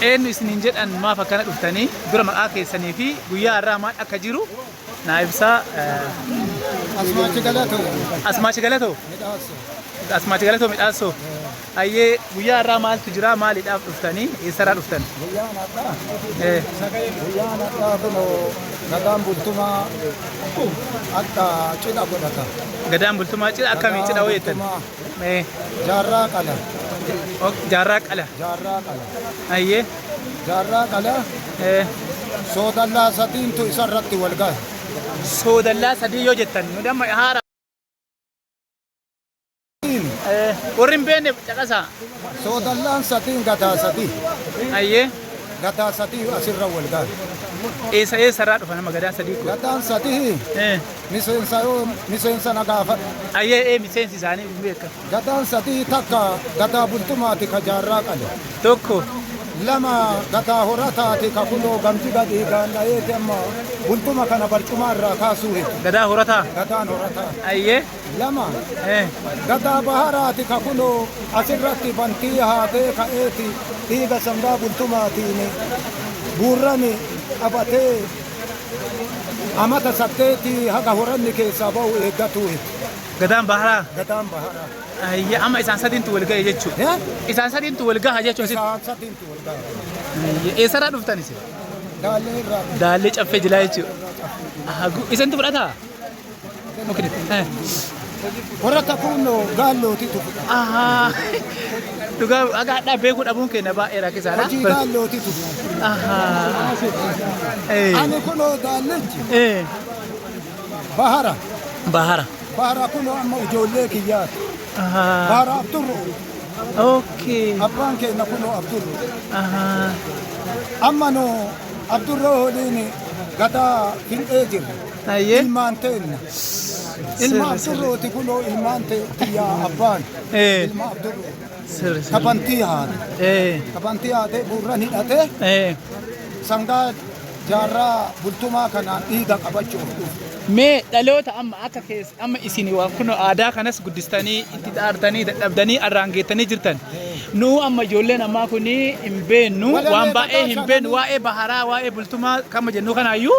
Eenyu isiniin jedhan maaf akkana dhuftanii dura maqaa keessanii fi guyyaa har'aa maal akka jiru naa ibsaa. Asmaachi Galatoo. Asmaachi Galatoo. Asmaachi Galatoo midhaassoo. Ayyee guyyaa har'aa maaltu jira maaliidhaaf dhuftanii eessarraa dhuftan? Guyyaan har'aa. Guyyaan har'aa kunoo gadaan bultumaa akka cidha godhata. Gadaan bultumaa cidha akkamii cidha hoo jettan? Mee. Jaarraa qala. Ok, jaarraa qala. Jaarraa qala. Ayyee. Jaarraa qala. Eh, Soodallaa sadiintu isarratti wal gahe. soodallaa sadii yoo jettan nu damma haara. Eh, warri hin beekne caqasaa. Soodallaan sadiin gadaa sadii. Ayyee. Gadaa sadii asirra wal gahe. Eessa eessarraa dhufa nama gadaa sadii kun? Gadaan sadii Eh, Miseensa yoo miseensa na gaafadhu. Ayyee ee miseensi isaanii hin beekamu. Gadaan sadii takka gadaa bultumaati ka jaarraa qale. Tokko. Lama gadaa horataati ka kunoo gamti gadii gaandhayeeti amma bultuma kana barcumaa irraa kaasuu hin. Gadaa horataa. Gadaan horataa. Ayyee. Lama Ee. gadaa baharaati ka kunoo asirratti bantii haatee ka'eeti dhiiga sangaa bultumaatiin buurrani qabatee Amata saddeeti haga horanni keessaa ba'u eeggatuu hin. Gadaan baharaa. Gadaan baharaa. Ayya amma isaan sadiintu wal ga'e jechuudha. Eh? Isaan sadiintu wal gaha jechuun sitti. Isaan sadiintu wal gaha. Ayya eessarraa dhuftan isin? Daallee irraa. Daallee caffee jilaa jechuudha. Aha, gu- Isintu fudhataa? Warra kakuunnoo gaallooti tuqu. Ahaa. Dhugaa akka hadhaa beekuu dhabuun keenya baay'ee rakkisaadha. Hojii gaallooti tuqu. Ahaa. Eh. Ani kunoo gaallirchi Eh. bahara. Bahara. Bahara kunoo amma ijoollee kiyyaati. Ahaa. Bahara Abdurru. Okay. Abbaan keenya kunoo Abdurru. Ahaa. Amma nu Abdurroo waliin gadaa hin eejiru. Hayyee. Ilmaan teenna. Ilma Abdurrooti kunoo ilmaan te- tiyyaa abbaan. Ee. Ilma Abdurroo. Sirri sirri. Kabantii haate. Ee. Kabantii haatee gurran hidhatee Ee. sangaa jaarraa bultumaa kanaan dhiiga qabachuuf dhufe. Mee dhaloota amma akka keessa amma isin waan kun aadaa kanas guddistanii itti xaartanii dadhabdanii arraan geettanii jirtan. Nu amma ijoolleen ammaa kun hin beennu waan baay'ee hin beennu waa'ee baharaa waa'ee bultumaa kama jennu kanaayyuu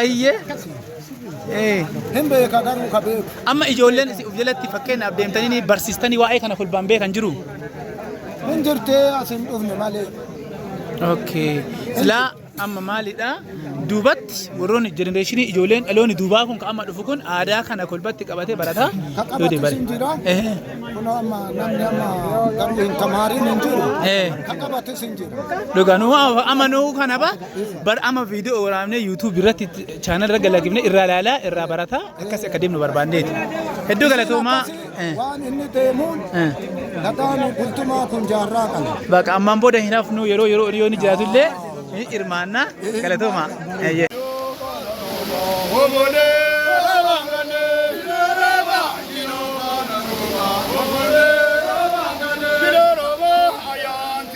Ayyee. Ee. Hin beeka garuu ka beeku. Amma ijoolleen isin of jalatti fakkeenyaaf deemtanii barsiistanii waa'ee kana kolbaan beekan jiru. Hin jirtee as hin dhufne malee. Okay. Silaa amma maalidha? Duubatti warroonni jenereeshinii ijoolleen dhaloonni duubaa kun ka amma dhufu kun aadaa kana kolbatti qabatee barataa. Ka yoo qabatu deebare. sin jira. Ehe. Kun amma namni amma garuu hin tamaarin hin jiru. Ee. Ka qabatu sin jira. Dhugaa nu amma nu kana ba Bar ama viidiyoo waraabnee YouTube irratti chaanal irra galakifne irraa ilaalaa irraa barataa akkas akka deemnu barbaanneeti. Hedduu galatoomaa. Waan inni deemuun dhagaan bultumaa kun jaarraa kana. Bakka ammaan booda hin hafnu yeroo yeroo yoo ni jiraatu illee ni hirmaanna galatoomaa. Eeyyee.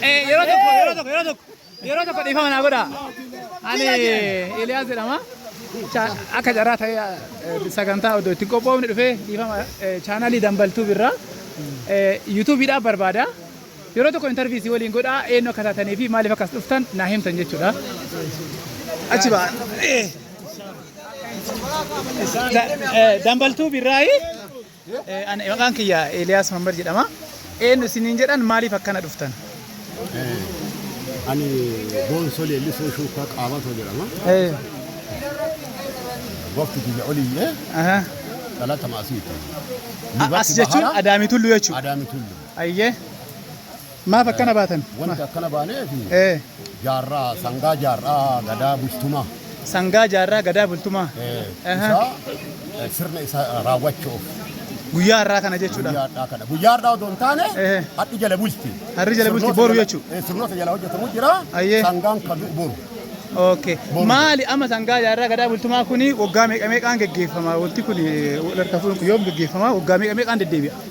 Yeroo tokko yeroo tokko yeroo tokko yeroo tokko dhiifama naa godha. Ani Eliyaas jedhama. Cha- Akka carraa ta'ee eh, sagantaa odoo ittiin qophoofne dhufee dhiifama eh, chaanaalii dambaltuu birraa eh, yuutuubiidhaaf barbaada. Yeroo tokko interview isin waliin godha eenyu akka taatanii fi maaliif akka as dhuftan naa himtan jechuudha. Achi ba'a. Eh. Da- eh, Dambaltuu birraayi. Eh, ani- Maqaan kiyya Eeliyaas Mammad jedhama. Eenyu isiniin jedhan maaliif akkana dhuftan? Ani boonsoo leellisoo shuukaa qaabatoo jedhama. Eh, Waqti kiyya oliyyee aha. dhalata maasiiti. As jechuun Adaamii Tulluu jechuudha. Adaamii Tulluu. Ayyee. Maaf akkana baatan? Wanti akkana baaneef Ee. jaarraa sangaa jaarraa gadaa bultumaa Sangaa jaarraa gadaa bultumaa. eh, Aha. isaa eh, sirna isa raawwachuuf Guyyaa har'aa kana jechuudha. guyyaa har'aa kana guyyaa har'aa otoo hin taane Eh. hadhi jala bulti. Har'i jala bulti, Sirnoota boru jala- jechuudha. eh, Sirnoota jala hojjetamu jira Ayyee. sangaan kan du'u boru. Okay. Boru. Maali amma sangaa jaarraa gadaa bultumaa kuni waggaa meeqa meeqaan geggeeffama? Wanti kuni wal harkaa fuudhuun kun yoom geggeeffama? Waggaa meeqa meeqaan deddeebi'a?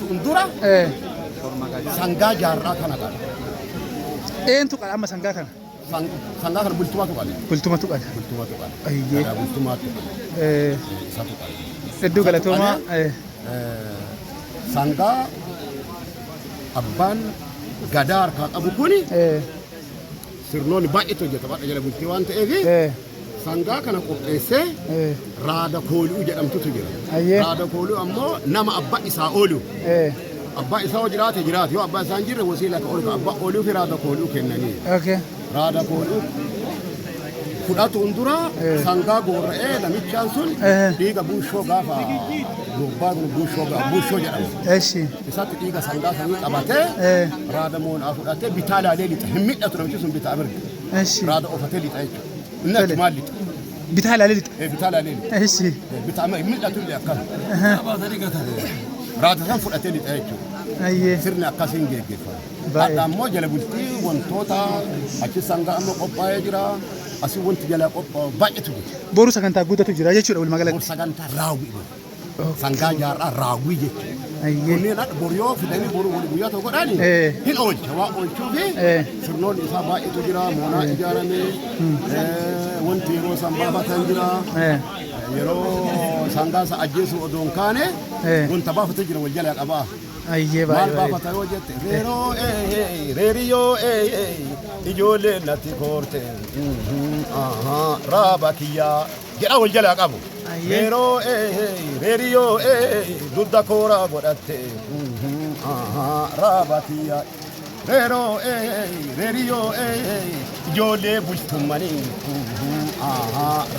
Fuuldura sangaa jaarraa kana qala. Eentu qala amma sangaa kana? Sangaa kana bultumatu qala. Bultumatu qala. Bultumatu qala. Ayyee. Gadaa bultumatu qala. Eh, Isatu qala. Hedduu galatoomaa. Eh, Sangaa abbaan gadaa harkaa qabu kuni eh, sirnoonni baay'eetu hojjetama jala bultii waan ta'eef eh. Sangaa kana qopheessee Eh. raada kooluu jedhamtutu jira. Ayyee. Raada kooluu ammoo nama abbaa isaa oolu. Eh. Abbaa isaa yoo jiraate jiraate yoo abbaa isaa hin jirre wasiila akka oolu abbaa ooluu fi raada kooluu kennanii. Okay. Raada kooluu fudhatuun dura Eh. sangaa goora'ee namichaan sun Eh. dhiiga buushoo gaafa gurbaa kun buushoo gaa- buushoo jedhama. Eshi. Isaatti dhiiga sangaa sanii qabatee Eh. raada moonaa fudhatee bitaa laalee lixa hin midhatu namichi sun bitaa mirga. Eshi. Raada ofatee lixa jechuudha. Mul'atu maal lixa? Bitaa ilaalee lixa. Eh, Bitaa ilaalee lixa. Eessi. Eh, Bitaa amma hin mul'atu illee akkana. Raata san fudhatee lixa jechuudha. Ayyee. Sirni akkasiin geggeeffama. Baay'ee. Hadha ammoo jala bultii wantoota achi sangaa amma qophaa'ee jira. Asii wanti jala qophaa'u baay'eetu jira. Boru sagantaa guddatu jira jechuudha walumaa Kun galatti. sagantaa raawwii. Sangaa jaarraa raawwii jechuudha. Kunneen akka bor yoo fidanii boru wal guyyaa tokko godhani hin oolcha waa oolchuu fi sirnoonni isaa baay'eetu jira moonaa ijaarame wanti yeroo san baafatan jira yeroo sangaa isa ajjeesuu odoo hin kaane wanta baafatu jira wal jalaa qabaa. Ayyee Maal baay'ee baafata yoo jette reeroo ee reeriyoo ee ijoollee natti koorte raabaakiyyaa. jedha wal jalaa qabu. Yeroo reeriyoo dudda koora godhatte raabatiya. Reeroo reeriyoo ijoollee bultummanii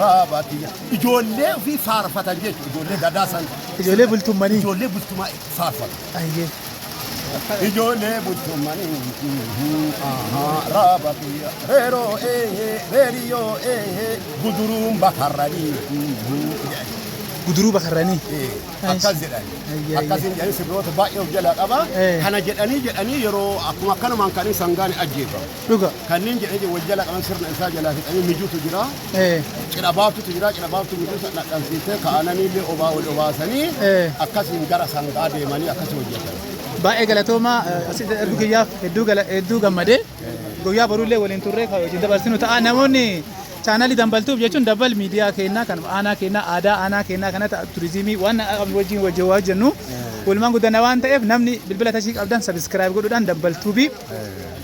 raabatiya. Ijoollee ofii faarfatan jechuudha ijoollee gadaa san. Ijoollee bultummanii. Ijoollee bultumaa. faarfatu. Ijoollee bultumanii raaba biyya reeroo eehee reeriyoo eehee guduruun bakarranii jedhani. Guduruu bakarranii. Eh, akkas jedhani. Ayya, Akkas ayya. hin jedhani sirboota baay'ee of jalaa qaba. Eh. Kana jedhanii jedhanii yeroo akkuma akkanumaan kan isaan gaane ajjeefamu. Dhuga. Kanneen jedhee jedhu wal jala qaban sirna isaa jalaa fixanii mijuutu jira. Eh. Cidha baaftutu jira. Cidha baaftu mijuu sana dhadhansiisee ka'ananii illee obaa wal obaasanii Eh. akkasiin gara sangaa deemanii akkasii hojjetan. Baay'ee galatooma eh, asitti ergu kiyyaaf hedduu gala- hedduu gammadee guyyaa boruullee waliin turree kan wajjin dabarsinu ta'a namoonni chaanaalii dambaltuuf jechuun dabbal miidiyaa keenyaa kan aanaa keenyaa aadaa aanaa keenyaa kana ta'a turizimii waan qabnu wajjin wajjin waa hojjennu walumaan guddana waan ta'eef namni bilbila tashii qabdan sabiskiraayib godhuudhaan dambaltuubii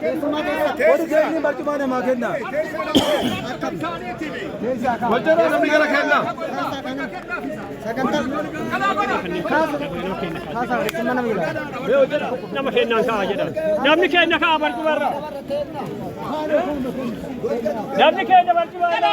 Warri keenya barcumaa namaa kenna. Wajjirraa namni gara kenna. Nama kennaan ka'a jedhan. Namni kenna ka'a barcumarra. Namni kenna barcumarra.